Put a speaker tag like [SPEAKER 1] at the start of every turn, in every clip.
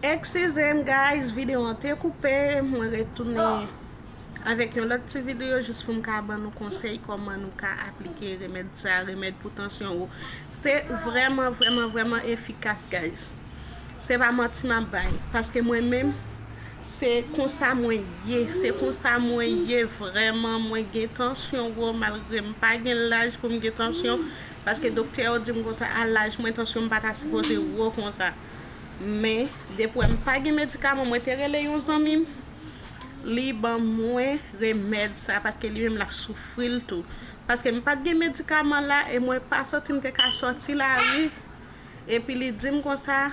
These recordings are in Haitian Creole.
[SPEAKER 1] Excuse m guys video an te koupe mwen retounen avèk yon lòt ti video jis pou m ka ban nou konsèy kòman nou ka aplike remèd sa remèd pou tansyon wo se vrèman vrèman vrèman efikas guys se pa manti map bay paske mwen menm se konsa mwen ye se konsa mwen ye vrèman mwen gen tansyon wo malgre m pa gen laj pou m gen tansyon Paske doktè yo dim konsa a laj mwen tansyon m pata sipoze wo konsa men depi wè m pa gen medikaman mwen te rele yon zanmi m li ban mwen remèd sa paske li menm lap soufri l tou paske m pat gen medikaman la e mwen pa santi m te ka soti lari epi li dim konsa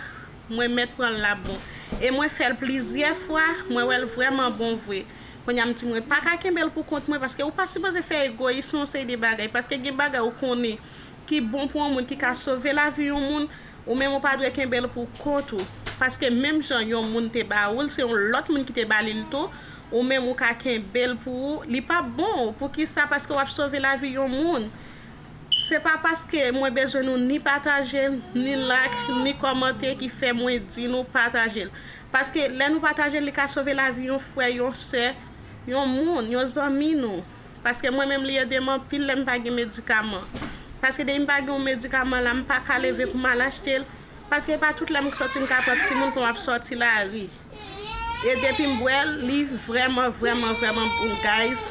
[SPEAKER 1] mwen mèt pran l lap bon e mwen fè l plizyè fwa mwen wè l vrèman bon vre. Konya m di mwen paka kenbel pou kont mwen paske ou pa sipoze fè egoyis nan yon seri de bagay paske gen bagay ou konnen ki bon pou yon moun ki ka sove lavi yon moun ou menm ou pa dwe kenbel pou kont ou paske menm jan yon moun te ba oul se yon lòt moun ki te ba lil tou ou menm ou ka kenbel pou ou li pa bon poukisa paske wap sove lavi yon moun se pa paske mwen bezwen nou ni pataje ni like ni kòmante ki fè mwen di nou patajel. Paske lè nou pataje l li ka sove lavi yon frè, yon sè, yon moun, yon zanmi nou. Paske mwen menm li ede m anpil lè m pa gen medikaman. Paske depi m pa gen yon medikaman la m paka leve pou m al achte l. Paske e pa tout lè m k sòti m ka pran timoun pou m ap sòti lari. E depi m bwè l li vrèman vrèman vrèman bon guys.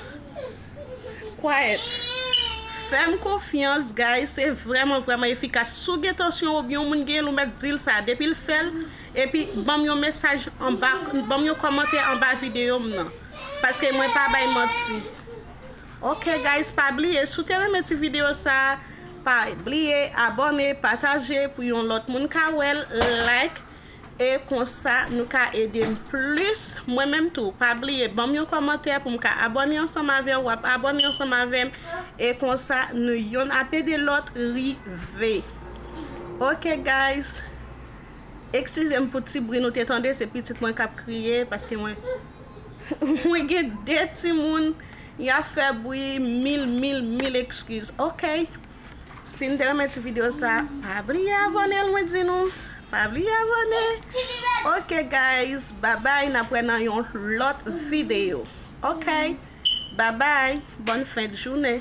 [SPEAKER 1] Quiet Fè m konfyans guys se vrèman vrèman efikas. Si w gen tansyon oubyen yon moun gen l ou mèt di l sa depi l fè l. Epi banm yon mesaj anba banm yon kòmantè anba video m nan paske mwen pa bay manti ok guys pa bliye si w te renmen ti video sa pa bliye abòne pataje pou yon lòt moun ka wèl like e konsa nou ka ede m plis mwen menm tou pa bliye banm yon kòmantè pou m ka abòne ansanm avè w wap abòne ansanm avè m e konsa nou yonn ap ede lòt rive ok guys. Eksizem pou ti bri nou te tande se pitit mwen kap kriye paske mwen mwen gen 2 timoun ya fè bri mil mil mil ekskiz ok si n te renmen ti video sa pa bliye abòne l mwen di nou pa bliye abòne ok guys babay nap wè nan yon lòt video ok babay bòn fendjounen.